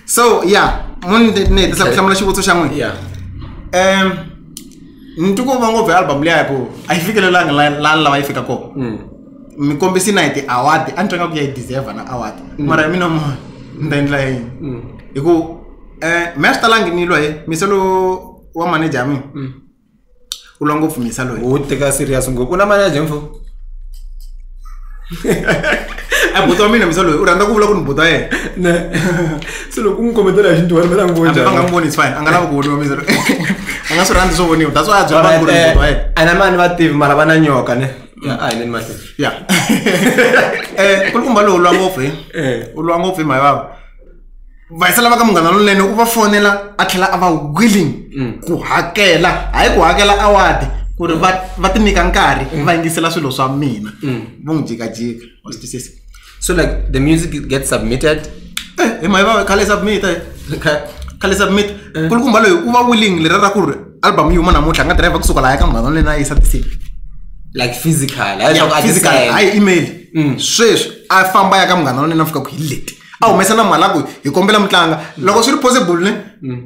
so ya munine tisa ku hlamula xivutiso xa n'wina ya um ni twi ku va ngopfu hi album liya hi ku a yi fikelelanga la- lani lava yi fika kona Mm. mi kombisi na hi ti-award a ni twa nga ku ya yi deserve na award mara hi mina mona ni ta endla yini Mm. hi ku um mi a swi talangi ni lwa hi miselo wa manager ya mina Mm. u lwa ngopfu misa loyi u teka serious ngopfu u na mali ya jemfo a buti wa mina misa loyi u rhandza ku vula ku ni buti wa yena ne se loko u n'wi kombetela hi xintu wena mina n'wi hambi va nga n'wi voni it's fine a nga lavi ku voniwa misa loyi a nga swi rhandzi swo voniwa that's why a byela vanhu ku ri ni buti wa yena a na mani va tivi mara va na nyoka ne ya a hi leni mahlweni ya um kulukumba lowu u lwa ngopfu hi Eh. u lwa ngopfu hi mhayivava vayisela va ka munghana lonene u va fonela a tlhela a va willing mm. ku hakela hayi ku hakela awadi ku ri va ti nyika nkarhi mm. va yingisela swilo swa mina mm. vo n'wi jikajika wa swi twisisa so like the music gets submitted eh, hi mahi va khale submit eh. khale submit eh. kulukumba loyi u va willing lera ra ku ri album yi huma namuntlha a nga dirayivha kusuka laha ya ka munghana lonene a yisa tisini like physical hayi email sweswi a famba ya ka munghana lonene a fika ku hi leti a humesa na mhalaku hi kombela mi tlanga loko swi ri possible ne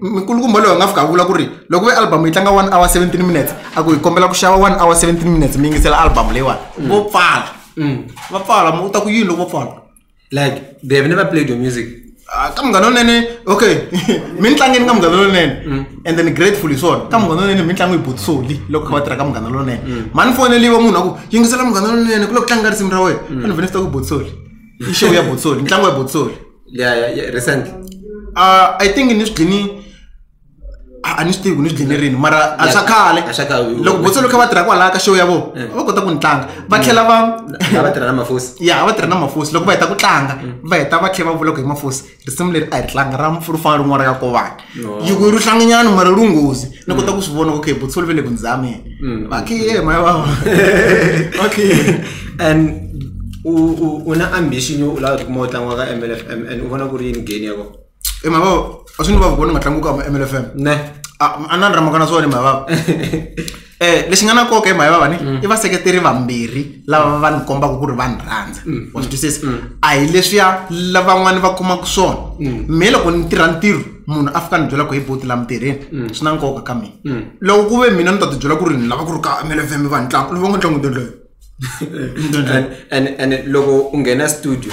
mikulukumba loyi a nga fika a vula ku ri loko ve album yi tlanga one hour seventeen minutes a ku hi kombela ku xava one hour seventeen minutes mi yingisela album leyiwani mm. vo pfala mm. va pfala u ta ku yini loko vo pfala like they have never played your music ah, ka munghana lonene okay mi ni tlangeni ka munghana lonene mm. and then grateful hi swona ka munghana lonene mi ni tlangi hi botsoli loko kha va tirha ka munghana lonene mani foneliwa munhu a ku yingisela munghana lonene ku loko tlanga risimu ra wena a ni vene swi ta ku botsoli i show ya botsoli ntlangu ya botsoli ya ya ya recent uh, i think ni swi dlini a a ni swi tivi ku ni swi dlini rini mara a swa khale A swa khale. loko botsoli kha va tirha kwalaha ka show ya vona Eh. va kota ku ni tlanga va tlhela va lava tirha na mafosi ya va tirha na mafosi loko va heta ku tlanga va heta va tlhela va vula ku hi mafosi risimu leri a hi tlanga ra ri fanele rin'wana ra yakovana yi ku ri hlanginyana mara ri nghozi ni kota ku swi vona ku okay butsholi ve le ku ndzi zameni mm. vakhiye maya vava vakhiye and u na ambition yo u lava tikuma u tlangiwa ka m l f m and u vona ku ri yini geni ya kona e maya vava a swi ni vava ku vona nga tlangiwa ka m l f m ne a ni ra mhaka na swona maya vava Eh, lexi nga na nkoka hi mhaka vavani mm. i vaseketeri vambirhi lava va ni kombaka ku ri va ni rhandza mm. wa swi twisisa mm. a hi leswiya lavan'wana va kumaka swona me loko ni tirha ntirho munhu a fika ni byela ku hi boti la mitirheni swi na nkoka ka mina loko ku ve mina ni ta ti byela ku ri ni lava ku ri ka mlfm va ntlangu lovo nga ntlangu ndondloyo and loko u nghena studio